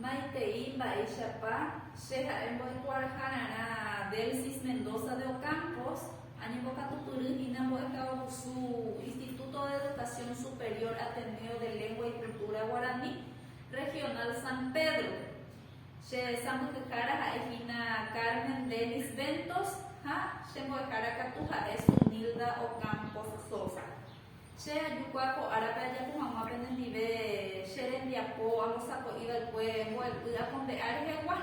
Maitei mba'éichapa che ha'e mbo'ekuaahararã Delsis Mendoza de Ocampos, añembokatupyry hína mbo'ekaguasu Instituto de Educación Superior Ateneo de Lengua y Cultura Guaraní, Regional San Pedro. Che sãmbyhyhára ha'e hína Carmen Dennis Ventos ha che mbo'ehára katu ha'e Zunilda Ocampos Sosa. Che ajuka ko árape ajapo hag̃ua penendive che rembiapo ambosako'i va'ekue mbo'epy akombe'a rehegua,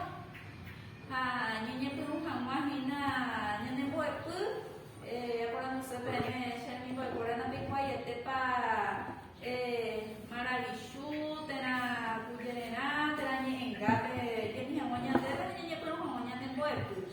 ha ñañepyrũ hag̃ua hína ñane mbo'epy. Aporanduse peẽme, che hemimbo'ekuéra napeikuaaiétepa maravichu térã kujererã, térã ñe'ẽngápe jemi hag̃ua ñandéve ha ñañepyrũ hag̃ua ñane mbo'epy.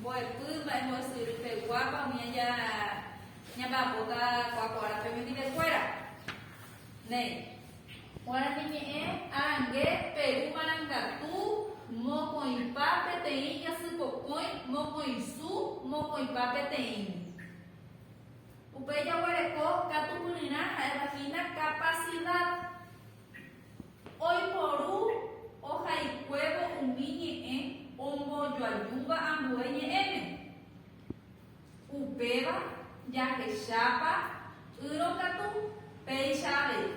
mbo'epy, mba'e mbo'esyry peguápa umi aja ñamba'apóta kuakuára pe mendive kuéra. Néi. Guarani ñe'ẽ arangue Peru marangatu, mokõipa peteĩ jasy pokõi, mokõisu, mokõipa peteĩ. Upéi jaguereko katupyryrã ha'éva hína capacidad. Oiporu ohaikuévo umi ñe'ẽ ombojoajúva ambue ñe'ẽme. Upéva jahechápa ýrõ katu péicha avei.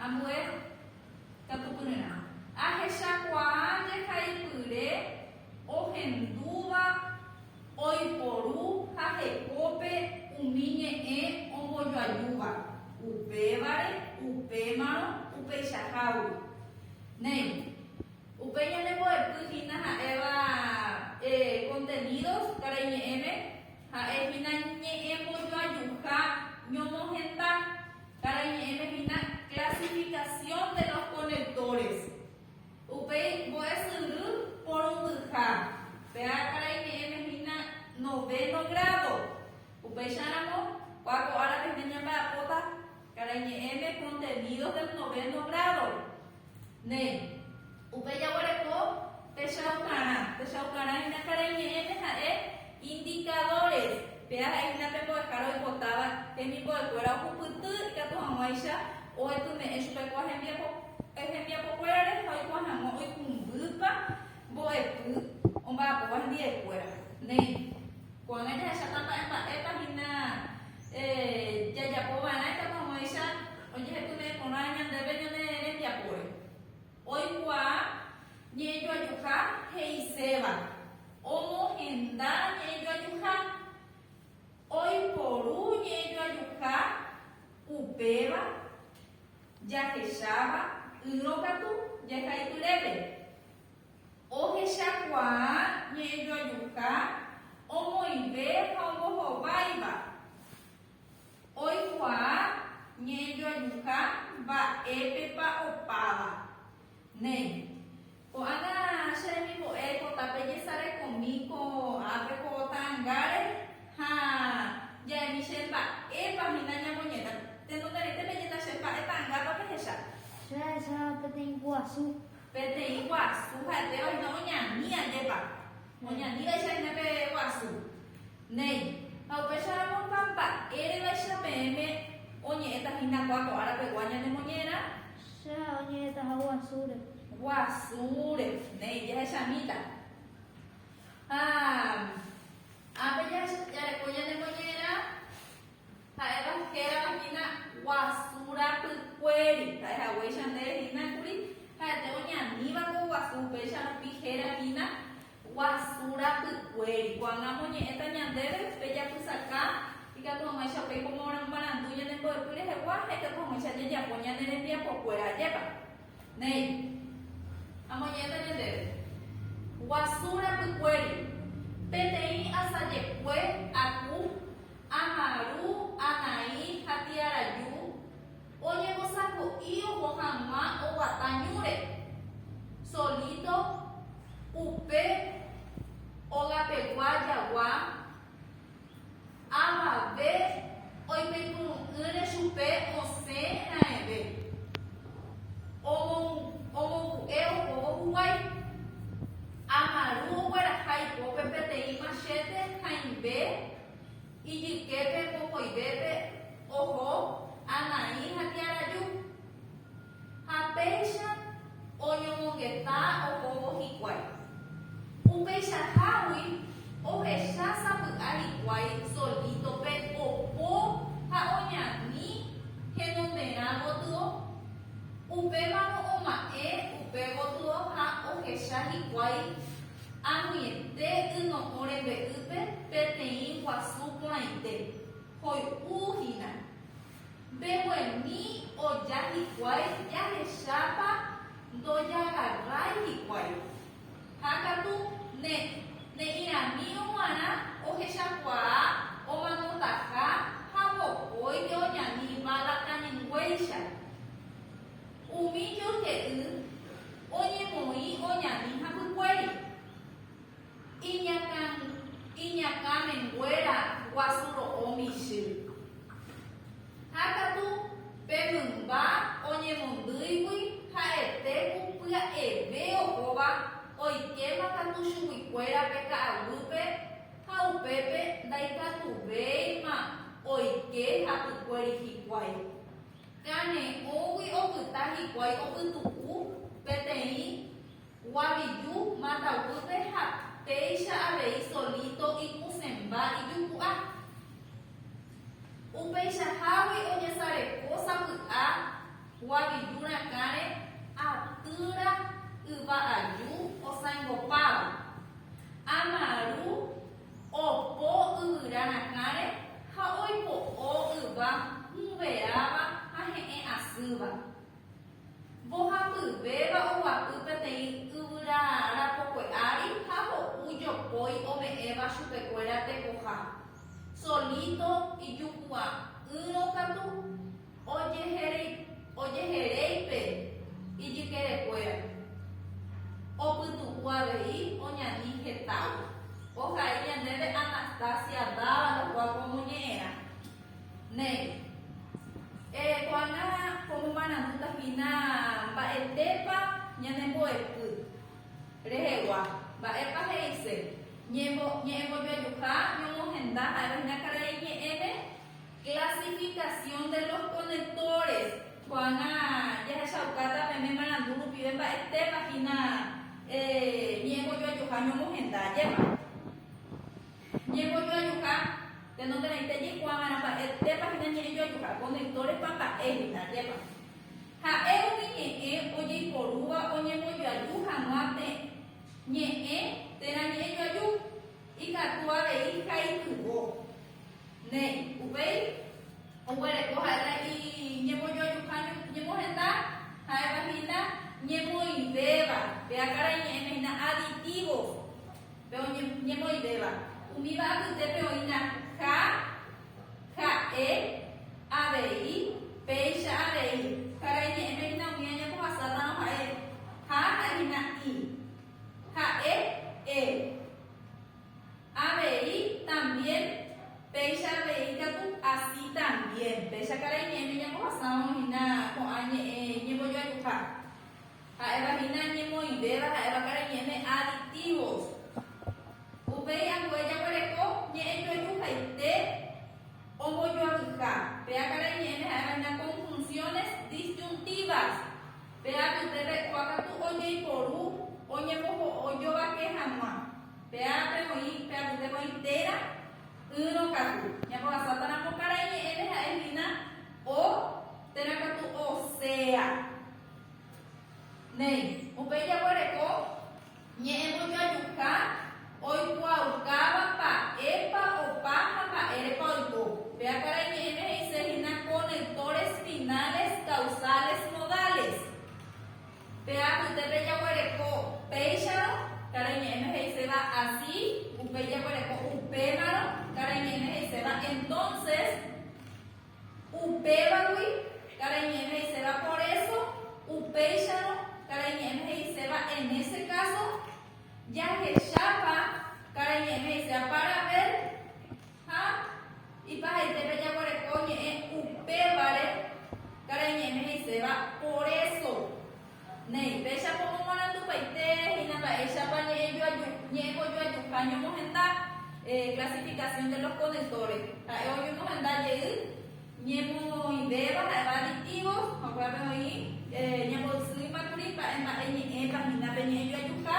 Ambue katupyryrã. Ahechakuaa jehaipyre ohendúva. oiporu ha hekópe umi ñe'ẽ ombojoajúva, upévare, upémarõ, upeichahágui. Néi, upe ñanembo'epy hína ha'éva kontenidos karai ñe'ẽme, ha'e hína ñe'ẽ mbojoajuha ñomohenda. Karai ñe'ẽme hína clasificación de los conectores. Upéi mbo'esyry porundyha, pe ára ime'ẽme hína novéno grádo. Upéicharamo, kua ko ára pehme ñamba'apóta karai ñe'ẽme Contenidos del Noveno Grado. Néi. Upe jaguereko techaukarã. Techaukarã hína karai ñe'ẽme ha'e Indicadores, Péa ha'ehína pe mbo'ehára oipotáva hemimbo'ekuéra ohupyty ikatu hag̃uáicha oetyme'ẽ chupe ko'ã hembiapokuérare ha oikuaa hag̃ua oikũmbýpa mbo'epy omba'apóva hendi'ekuéra. Néi, ko'ág̃a jahecháta mba'e mba'épa hína jajapo va'erã ikatu hag̃uáicha ojehetyme'ẽ porã ñandéve ñane rembiapóre. Oikuaa ñe'ẽjoajuha he'iséva. Omohenda ñe'ẽjoajuha. Oiporu ñe'ẽjoajuha upéva jahecháva ýrõ katu jahayhurépe. Ohechakuaa ñe'ẽjoajuha omoĩve ha ombohováiva. Oikuaa ñe'ẽjoajuha mba'épepa opáva. Ne. Ko'ág̃a che remimbo'e ko tape jesarekomi ko ápe ko ta'angáre ha ja'emi che mba'épa hína ñamoñeta. Tenonderãite peñeta che mba'e ta'angápa pehecha. Che ahecha peteĩ guasu. Peteĩ guasu ha'etéva hína oñani ajépa. Oñanívaicha hína pe guasu. Néi, ha upéicharõpa mba'érevaicha peẽme oñe'ẽta hína kua ko ára pegua ñanemoñe'ẽrã? Che oñe'ẽta ha guasúre. Guasúre. Néi, jahechamíta. Ha ápe jajareko ñanemoñe'ẽrã, ha'éva hérava hína guasu rapykuéri, ha'e haguéicha nde hína kuri ha'ete oñaníva ko guasu, upéicharõ pi héra hína. Guasu rapykuéri. Ko'ág̃a amoñe'ẽta ñandéve pe japysaka ikatu hag̃uáicha upéi ko marandu ñane mbo'epy rehegua ha ikatu hag̃uáicha ajejapo ñane rembiapokuéra ajépa. Néi, amoñe'ẽta ñandéve. Guasu rapykuéri. Peteĩ asajekue, aku, amaru, anaĩ ha tiaraju, Oñembosako'i oho hag̃ua oguata ñúre, solíto, upe ogapegua jagua, avave oipytyvõ'ỹre chupe osẽ raẽve, omongu'e ohóvo huguái. Amaru ogueraha ipópe peteĩ machete hãimbe. Ijyképe mokõivépe oho Anaí ha Tiaraju, ha péicha oñomongeta ohóvo hikuái. Upeichahágui ohecha sapy'a hikuái solítope opo ha oñani henonderã gotyo. Upémarõ oma'ẽ upe gotyo ha ohecha hikuái. Añete yno'õ rembe'ýpe peteĩ guasu porãite, hoy'u hína. Mbeguemi oja hikuái jahechápa ndojagarrái hikuái. Ha katu ne, ne'ĩramírõ g̃uarã ohechakuaa omanotaha ha mokõi oñani bala kañyngúeicha. Umi joyke'y oñemoĩ oñani hapykuéri. Iñakã, iñakã menguéra guasu ro'o michy. Ha katu pe mymba oñemondýigui ha'ete ku pya'eve ohóva oikéma katu chuguikuérape ka'aguýpe ha upépe ndaikatuvéima oike hapykuéri hikuái. Kane'õgui opyta hikuái opytu'u peteĩ guaviju matavýpe ha péicha avei solíto ikusẽmba ijupu'a. Upeichahágui ojesareko sapy'a guaviju rakãre atýra yva aju osãingopáva. Amaru Opo yvyra rakãre ha oipo'o yva hũveáva ha he'ẽ asýva. Mbohapyvéva oguapy peteĩ yvyra rapokué ári ha ho'u jopói ome'ẽva chupekuéra tekoha. Solito ijupu'a'ỹrõ katu. ojeheréipe ijykerekuéra, opytu'u avei oñani hetágui. Ohai ñandéve Anastasia Dávalo kuáko omoñe'ẽrã, néi, Ereko'arã ko momarandúta hína mba'etépa ñanembo'epy rehegua, mba'épa he'ise ñe'ẽmbojoajuha ñomohenda ha'éva hína karai ñe'ẽme, Clasificación de los conectores. Ko'ág̃a jahechaukáta pene marandu rupive mba'etépa hína ñe'ẽmbojoajuha ñomohenda. Ajépa ñe'ẽmbojoajuha, tenonderãite jaikuaa va'erã mba'etépa hína ñe'ẽjoajuha, conectores-pa mba'e hína. Ajépa ha'e umi ñe'ẽ ojeiporúva oñembojoaju hag̃ua pe ñe'ẽ térã ñe'ẽjoaju, ikatu avei ha ikyvo. Néi. Upéi oguereko ha'éta iñembojoajuha ñemohenda ha'éva hína ñemoĩvéva. Pe ákarai ñe'ẽme hína aditivo pe oñemoĩvéva. Umíva apytépe oĩna ha, ha'e, avei, péicha avei. Karai ñe'ẽme hína umi añapohasátãrõ ha'e ha ha'e hína i. Ha'e, e. Avei también péicha avei katu así también. Péicha karai ñe'ẽ peñapohasáramo hína ko'ã ñe'ẽ iñembojoayhuha. Ha'éva hína ñemoĩvéva ha'éva karai ñe'ẽme aditivos. Upéi ambue jaguereko ñe'ẽ joayhuhaite ombojoayhuha. Péa karai ñe'ẽme ha'éva hína conjunciones disyuntivas. Péa apytépe kua katu ojeiporu oñemboho'o jovake hag̃ua. Pe ápe oĩ, pe apytépe oĩ téra ỹrõ katu. Ñambohasáta ramo karai ñe'ẽme ha'e hína o téra katu osea. Néi, upéi jaguereko ñe'ẽmbojoajuka oikuaaukáva mba'épa opa ha mba'érepa oiko. Péa karai ñe'ẽme he'ise hína conectores finales, causales, modales. Pe apyte pejaguereko péicharõ karai ñe'ẽme he'iséva así, upéi jaguereko upémarõ karai ñe'ẽme he'iséva entonces, upévagui karai ñe'ẽme he'iséva por eso, upéicharõ karai ñe'ẽme he'iséva en ese caso, jahechápa karai ñe'ẽme he'iséva para ver, Ha ipahaite pejaguereko ñe'ẽ upévare karai ñe'ẽme he'iséva poréso. Néi, péicha pomomarandupaite hína mba'éichapa ñe'ẽjojuajuha ñomohenda, clasificación de los conectores. Ha'e oñemohenda jey ñemoĩvéva ha'éva aditivos, jokuépe oĩ ñamboysýima kuri mba'e mba'e ñe'ẽpa hína pe ñe'ẽjoajuha.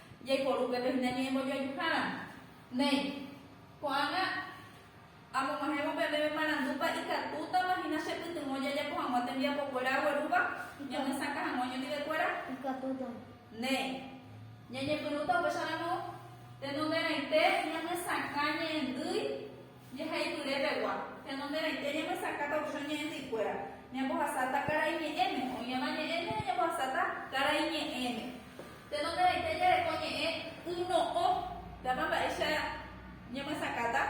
Jaiporu upépe hína ñe'ẽmbojoajuhára. Néi, ko'ág̃a amog̃uahẽvo pe meme marandúpa ikatútama hína chepytyvõ jajapo hag̃ua tembiapokuéra aguerúva ñamyesakã hag̃ua oñondive'ekuéra? Ikatútama. Néi, ñañepyrũta upéicharamo tenonderãite ñamyesakã ñe'ẽndýi. Jehaityre pegua, tenonderãite ñamyesakã kauchõ ñe'ẽndyikuéra, ñambohasáta karai ñe'ẽme, oĩva ñe'ẽme ha ñambohasáta karai ñe'ẽme. Tenonderãite jareko ñe'ẽ yno'õ, tápa mba'éicha ñamyesakãta?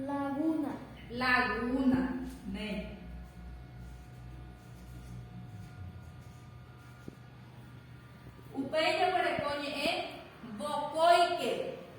Laguna. Laguna. Néi. Upéi jaguereko ñe'ẽ vokóike.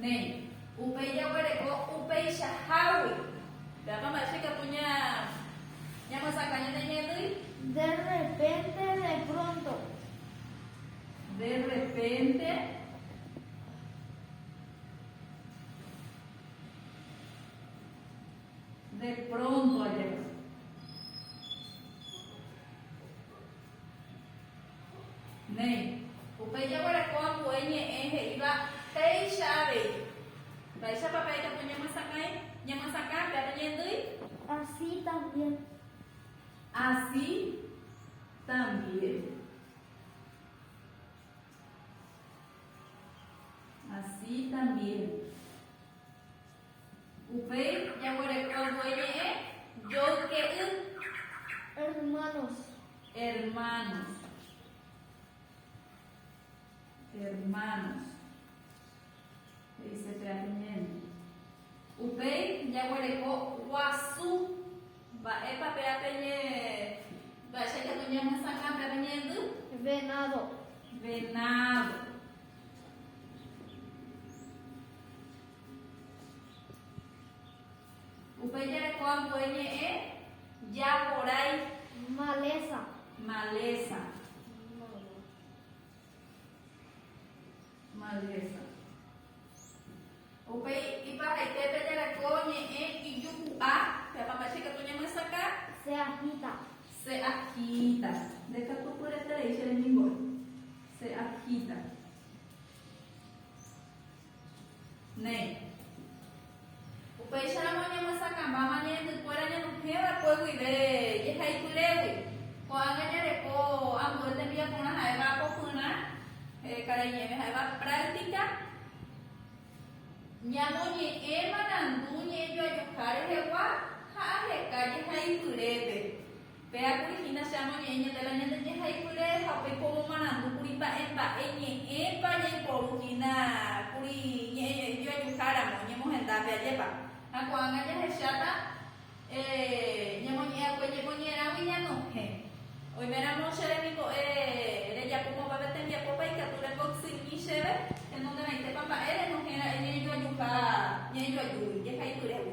Néi, upéi jaguereko upeichahágui. Pévapa mba'éicha ikatu ñamyesakã ñane ñe'ẽtỹi? De rrepénte, de pronto. De rrepénte, de pronto ajépa. Néi, upéi jaguereko ambue ñe'ẽ he'íva péicha avei. Mba'éichapa pe ajapo ñamyesakãi? Ñamyesakã pe apo ñaendýi? Así también. Así también. Así también. Upéi jaguereko voi ñe'ẽ joyke'y. Hermanos. Hermanos. Hermanos. He'ise pe alimento. Upéi jaguereko guasu. Mba'épa pe ape ñe, mba'éicha katu ñamyesakã pe ape ñe'ẽndy? Venado. Venado. Upéi jarekóva ambue ñe'ẽ japorái. Maleza. Maleza. Maleza. Upéi iparaítépe jareko ñe'ẽ ijuhu'a. Peapapa che katu ñamyesakã. Se agita. Se agita. Nde katu pyeterei che rembiguái. Se agita. Néi. Upéicharamo oñemyasakãmbáma ñe'ẽndykuéra ñanduhẽ va'ekue guive jehaipyrégui. Ko'ág̃a jareko ambue tembiaporã ha'éva apofyrã, karai ñe'ẽme ha'éva práctica, ñamoñe'ẽ marandu ñe'ẽjoajuha rehegua ha aheka jehaipyrépe. Péa kuri hína che amoñe'ẽ ñande la ñande ñehayhuire ha upéi ko omomarandu kuri mba'e mba'e ñe'ẽpa ñaiporu hína kuri ñe'ẽ joajuha ramo ñemohendápe ajépa ha ko'ág̃a jahecháta ñemoñe'ẽ'akue ñemoñe'ẽrãgui ñanohẽ. Oime ramo che remimbo'e rejapo mopave tembiapópa ikatu repocsymi chéve henonderãitépa mba'e renohẽ ra'e ñe'ẽjoajuha ñe'ẽjoajúgui jehayhuirévo.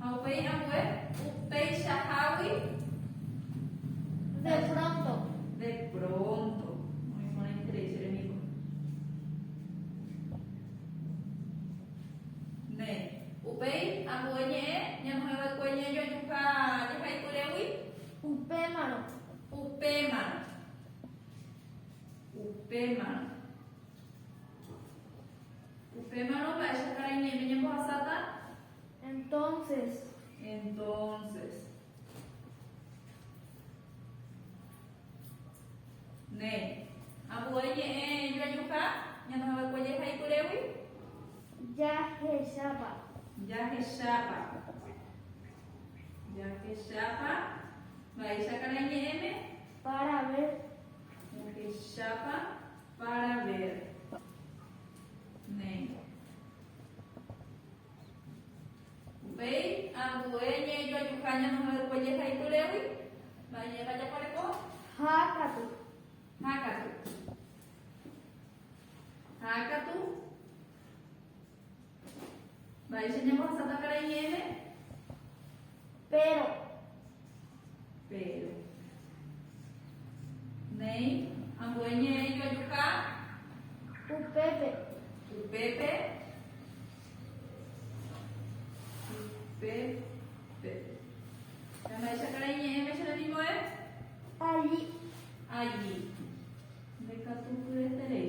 Ha upéi ambue, upeichahágui. De pronto. De pronto. Muy buena increíble, enemigo. Ne. Upéi ambue ñe'ẽ ñamoheva'ekue ñajojuha jehaipyregui. Upémarõ. Upémarõ. Upémarõ. Upémarõ mba'éichapa reñe'ẽme ñambohasáta? Entonces. Entonces. Ne. Ambue ñe'ẽ joajuha ñanohãva'ekue jehai kyrégui? Jahechápa. Jahechápa. Jahechápa mba'éichapa reñe'ẽme? Para ver. Jahechápa. Para ver néi. Upéi ambue ñe'ẽjoajuha ñanohayhúva jehaipyrégui, mba'éichapa jaguerekóva? Hákatu. Hákatu. Hákatu. Mba'éicha ñambohasáta karai ñe'ẽme? Péro. Péro. Néi, ambue ñe'ẽ ijoajuka. Upépe. Upépe. Upépe. Mba'éicha karai ñe'ẽme che rembimbo'e? Alli. Alli. Ndekatupyreterei.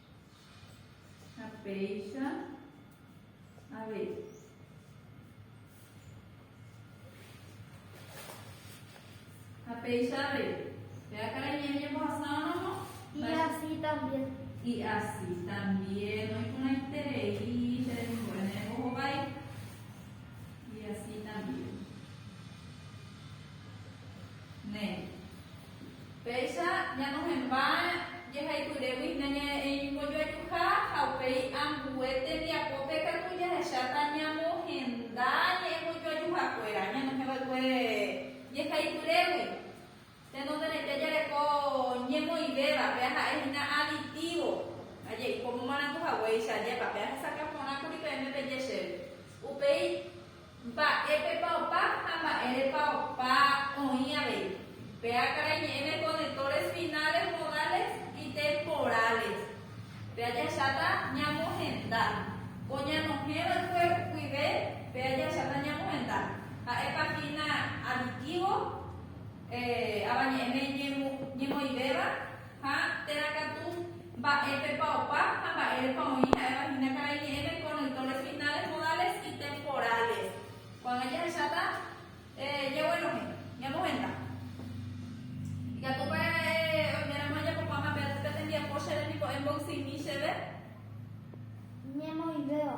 Ha péicha avei. Ha péicha avei. Vea karai ñe'ẽ ñembohasáramo. Y así también. Y así también. Oĩporãiterei che remimbo'e ne rembohovái. Y así también. Ne. Péicha ñanohẽmba'e jehaipyrégui nañae'ẽimbojoajuha ha upéi ambue tembiapópe katu jahecháta ñamohenda ñe'ẽmbojoajuhakuéra ñanohẽva'ekue jehaipyrégui. Tenonderãite jareko ñemoĩvévape aha'e hína aditívo, aje'ípo momaranduhaguéicha, ajépape ahesakã porãkuri peẽme peje chéve. Upéi. Mba'épepa opa ha mba'érepa opa oĩ avei. Pe ákarai ñe'ẽme conectores finales modales y temporales. Pe ajacháta ñamohenda. Ko ñanohẽ va'ekue guive pe ajacháta ñamohenda. Ha'épa hína aditivo, avañe'ẽme ñemoivéva. Ha térã katu, mba'épepa opa ha mba'érepa oĩ ha'éva hína karai ñe'ẽme con autores finales modales y temporales. Ko'ág̃a jahecháta jeguenohẽ, ñamohenda. Ikatúpa oiméramo ajapopáma pe tembiapo che rembipó'e mboysymi chéve? Ñemoĩvéva.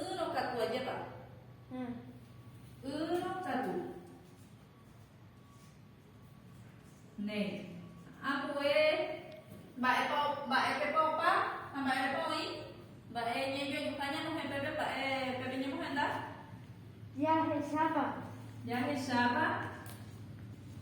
Ỹrõ katu ajépa. Ỹrõ katu. Néi. Ambue mba'épa, mba'épepa opa ha mba'érepa oĩ. Mba'e ñajoajuha ñamohẽ pépe mba'e pépe ñemohenda. Jahechápa. Jahechápa.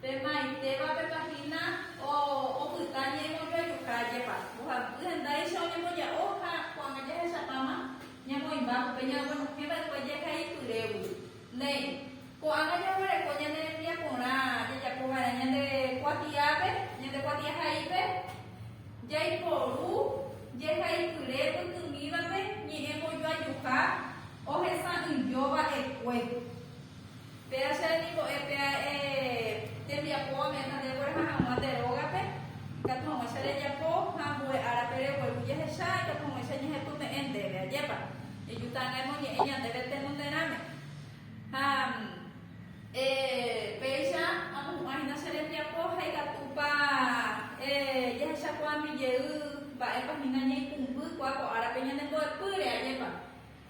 Pe maitéva pe páhina opyta ñaimojoajuka jepa, mbohapy hendáicha oñemboja'o ha ko'ág̃a jahechapáma ñamoĩmba upe ñaguenohẽ va'ekue jehaipyrégui. Néi, ko'ág̃a jaguereko ñane rembiaporã jajapo va'erã ñande kuatiápe, ñande kuatiahaípe, jaiporu jehaipyre pytĩmívape ñe'ẽmbojoajuka ohesa'ỹijo va'ekue. Péa che remimbo'e pea'e tembiapo ome'ẽta nde ogueraha hag̃ua nde rógape, ikatu hag̃uáicha rejapo, ha ambue árape regueru jehecha, ikatu hag̃uáicha ñehepyme'ẽ ndéve. Ajépa eju ta'ãnga emoñe'ẽ ñandéve tenonderãme. Ha péicha amohu'ã hína che rembiapo ha ikatúpa jahechakuaami jey mba'épa hína ñaikũmby kua ko árape ñanembo'epýre. Ajépa.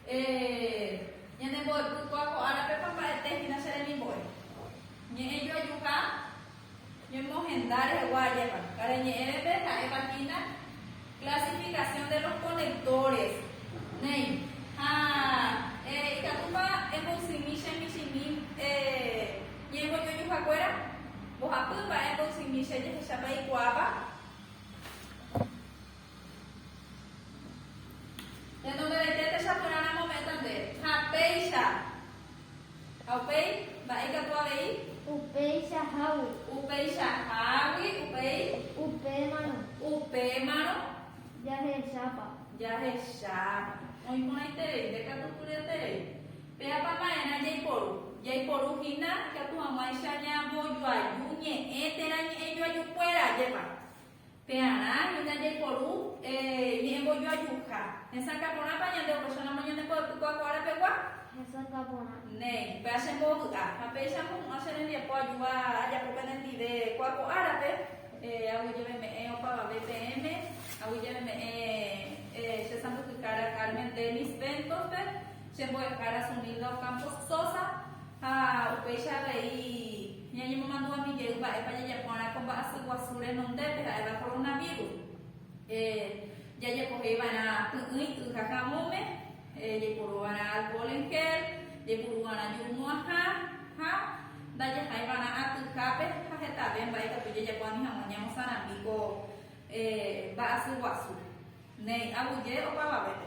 Ehéh, ñane mboypukua ko árapepa mba'ete hína che remimbo'e. Ñe'ẽ joajuha ñemohenda rehegua ajépa. Karai ñe'ẽvepe ha'épa hína clasificación de los conectores. Néi, ha eh, ikatúpa emboysimi che michĩmi eh, ñe'ẽvo joajuha kuéra? Mbohapy mba'e emboysimi che jehecha paikuaáva? Ñanembaraite techaporãramo ome'ẽtante. Ha péicha. Ha upéi, mba'e ikatu avei? Upéicha hágui. Upéicha hágui, upéi? Upémarõ. Upémarõ. Jahechápa. Jahechápa. Oĩ porãiterei, ndekatu kyryeterei. Péapa ma'erã jaiporu? Jaiporu hína ikatu hag̃uáicha ñambojoaju ñe'ẽ térã ñe'ẽjoajukuéra. Ajépa. Pearã hína jaiporu ñe'ẽmboju ajuha. Hesakã porãpa ñande opresonamo ñande mbo'epykuaa ko ára pegua? Hesakã porã. Néi, péa che mbovy'a. Ha péicha amohu'ã che rembiapo ajúva ajapo pene ndive kuaa ko árape, agui jave me'ẽ opavave peẽme, agui jave me'ẽ che sãmbyhyhára Carmen Denis Ventospe, che mbo'ehára Sunilda Ocampo Sosa ha upéicha avei. Ñañemomandu'a mbijey mba'épa jajapo'arã ko mba'asy guasu renondépe, ha'éva koronavírus. Jajepohéi va'erã py'ỹi y ha javõme, jaipuru va'erã alkóhol en gél, jaipuru va'erã jurumo'ãha ha ndajahãi va'erã atyhápe ha hetave mba'e katu jajapo ani hag̃ua ñamosarambi ko mba'asy guasu, néi aguyje opavavépe.